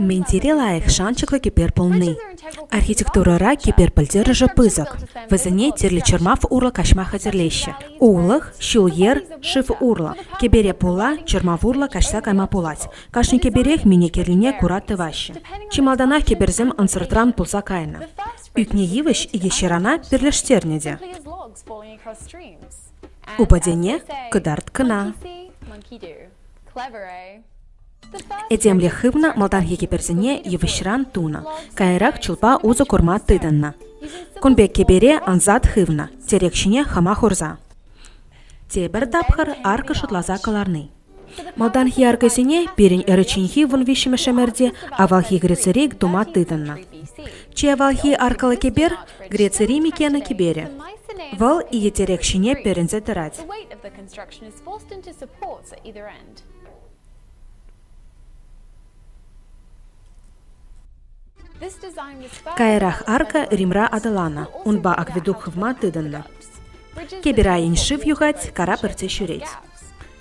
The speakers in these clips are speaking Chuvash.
Минтире лайӑх шанчӑклӑ кӗпер пулни архитектурӑра кӗпер пӗлтерӗшӗ пысӑк. Вӗсене тӗрлӗ чӑрмав урлӑ каҫма хатӗрлеҫҫӗ. Улӑх, ҫул-йӗр, шыв урлӑ. Кӗпере пула чӑрмав урлӑ каҫса кайма пулать. Кашни кӗперех минекеллине кура тӑваҫҫӗ. Чи малтанах кӗперсем ӑнсӑртран пулса кайнӑ. Ӳкнӗ йывӑҫ икӗ ҫырана пӗрлештернӗ те. Упадене кӑтарт кӑна. Этемлӗх хывнӑ малтанхи кӗперсене йывӑҫран тунӑ, каярах чулпа усӑ курма тытӑннӑ. Кун пек кӗпере ансат хывнӑ, тӗрек ҫине хама хурса. Тепӗр тапхӑр аркӑ шутласа кӑларни. Малтанхи аркӑсене пирӗн ӗрӗчченхи вун виҫҫӗмӗш ӗмӗрте авалхи Грецири тума тытӑннӑ. Чи авалхи аркӑллӑ кӗпер – Грецири Микена кӗперӗ. Вӑл икӗ тӗрек ҫине перӗнсе тӑрать. Каярах арка Римра аталаннӑ, унпа акведук хывма тытӑннӑ. Кеберайӑн шыв юхать, кара пӗртсе ҫӳрет.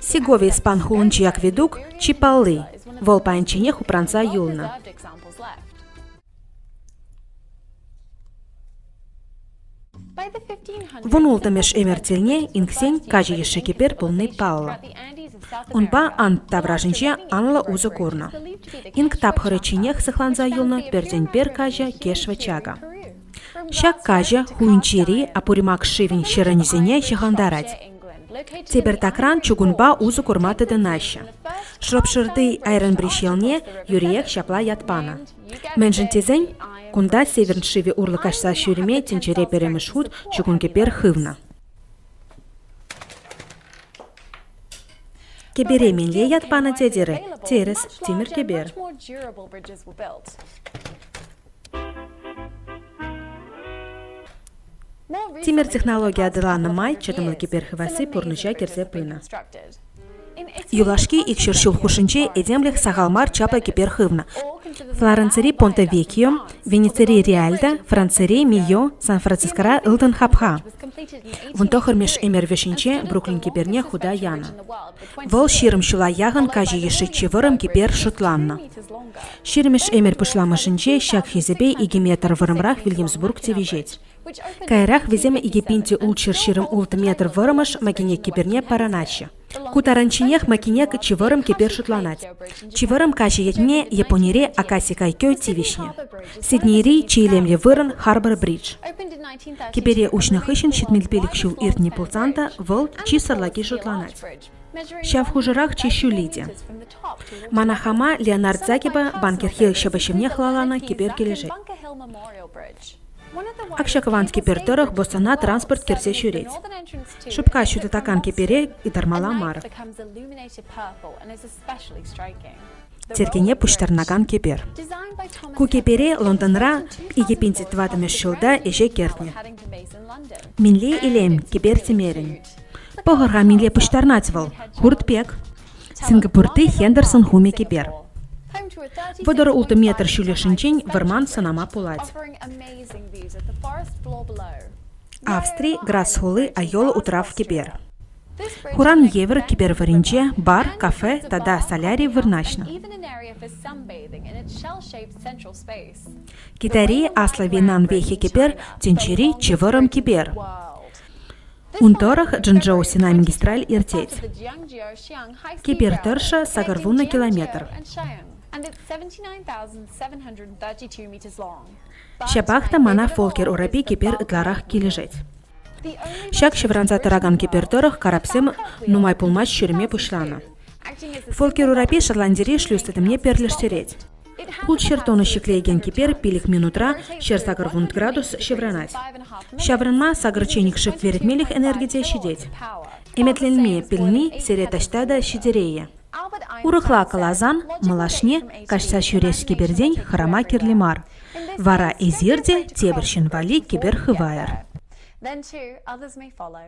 Сеговий спан хулинчи акведук чи палли. Вӑл паянчченех упранса юлнӑ. Вун ултӑмӗш эмӗртелне инксен качӑ йышши кӗпер пулни паллӑ. Унпа ант таврашӗнче анлӑ усӑ курнӑ. Инк тапхӑрӗ чинех сыхланса юлнӑ пертен-пер каҫӑ Кешва Чака. Ҫак каҫӑ Хуинчери Апуримак шывӗн ҫӗрӗнӗсене ҫыхӑнтарать. Тепӗртакран чугунпа усӑ курма тытӑнаҫҫӗ. Шӑрпшырти Айренбридж ялне юриех ҫапла ят панӑ. Мӗншӗн тесен кунта Северн шывӗ урлӑ каҫса ҫӳреме тӗнчере пӗрремӗш хут чугун кӗпер хывнӑ. Кӗпере мӗнле ят панӑ тетӗр? Терӗс, тимӗр кӗпер. Тимӗр технологи аталаннӑ май чӑтӑмлӑ киберхываси пурнӑҫа кӗрсе пынӑ. Юлашки икҫӗр ҫул хушшинче этемлӗх сахал мар чаплӑ кибер хывнӑ. Флоренцири Понте Векьо, Венецири Реальда, Францири Мио, Сан-Францискора ылтӑн хапха. Вун тӑхӑрмӗш ӗмӗр вӗҫӗнче Бруклин киберне хута янӑ. Вӑл ҫирӗм ҫула яхӑн каҫӑ йышши чи вӑрӑм кибер шутланнӑ. Ҫирмӗш Эмер пуҫламӑшӗнче ҫак хисепе икӗ метр вӑрӑмрах Вильямсбург тивӗҫет. Каярах вӗсем икӗ пинти ултҫӑр ҫирӗм ултӑ метр вӑрӑмӑш Макинек кӗперне парӑнаҫҫӗ. Ку таранчченех Макинек чи вӑрӑм кӗпер шутланать. Чи вӑрӑм каҫӑ ятне Японире Акаси Кайкё тивӗҫнӗ. Сиднейри чи илемлӗ вырӑн Харбор Бридж. Кӗпере уҫнӑ хыҫҫӑн ҫитмӗлпелӗк ҫул иртнӗ пулсан та вӑл чи сӑрлаки шутланать. Ҫав хушӑрах чи ҫулли те. Мана хама Леонард Загиба банкирхи ҫӑвӑҫҫине хӑлаланӑ кӗпер килӗшет. Акҫакӑван кӗпер тӑрӑх боссана транспорт кӗрсе ҫӳрет. Шупка ҫутатакан кӗпере ытармалла мар. Тертене пуҫтарӑнакан кӗпер. Ку кӗпере Лондонра 2025 ҫулта ӗҫе кӗртнӗ. Минле илем кӗпер тӗмерӗн. Пӑхӑр-ха мӗнле пуҫтарнать вӑл. Хурт пек. Сингапурти Хендерсон хумӗ кӗпер. Вӑтӑр ултӑ метр ҫӳллӗшӗнчен вӑрман сӑнама пулать. Австри, Грасс хули Айола утрав кӗпер. Хуран евӗр кӗпер варринче бар, кафе тата соляри вырнаҫнӑ. Китайри аслӑ винан вехи кӗпер тӗнчери чи вӑрӑм кӗпер. Ун тӑрӑх Джэнчжоусина магистраль иртет. Кипер тӑршшӗ сакӑр вунӑ километр. Ҫапах та мана Фолкер урапи кипер ытларах килӗшет. Ҫак ҫывранса тӑракан кипер тӑрӑх карапсем нумай пулмасть ҫӳреме пуҫланӑ. Фолкер урапи Шотландири шлюз тытӑмне перлештерет. Хут ҫӗр тонна ҫӗклеекен кипер пилӗк минутра ҫӗр сакӑр вунт градус ҫывранать. Ҫаврӑнма сакӑр чечникшӗ перӗтмелӗх энерги те ҫитет. Ӗметленме пӗлни сире таҫта та ҫитерейӗ. Урӑхла каласан, малашне каҫса ҫӳрес кипертен хӑрама кирли мар. Вара эсир те тепӗр ҫын валли кипер хывайӑр. Then two others may follow.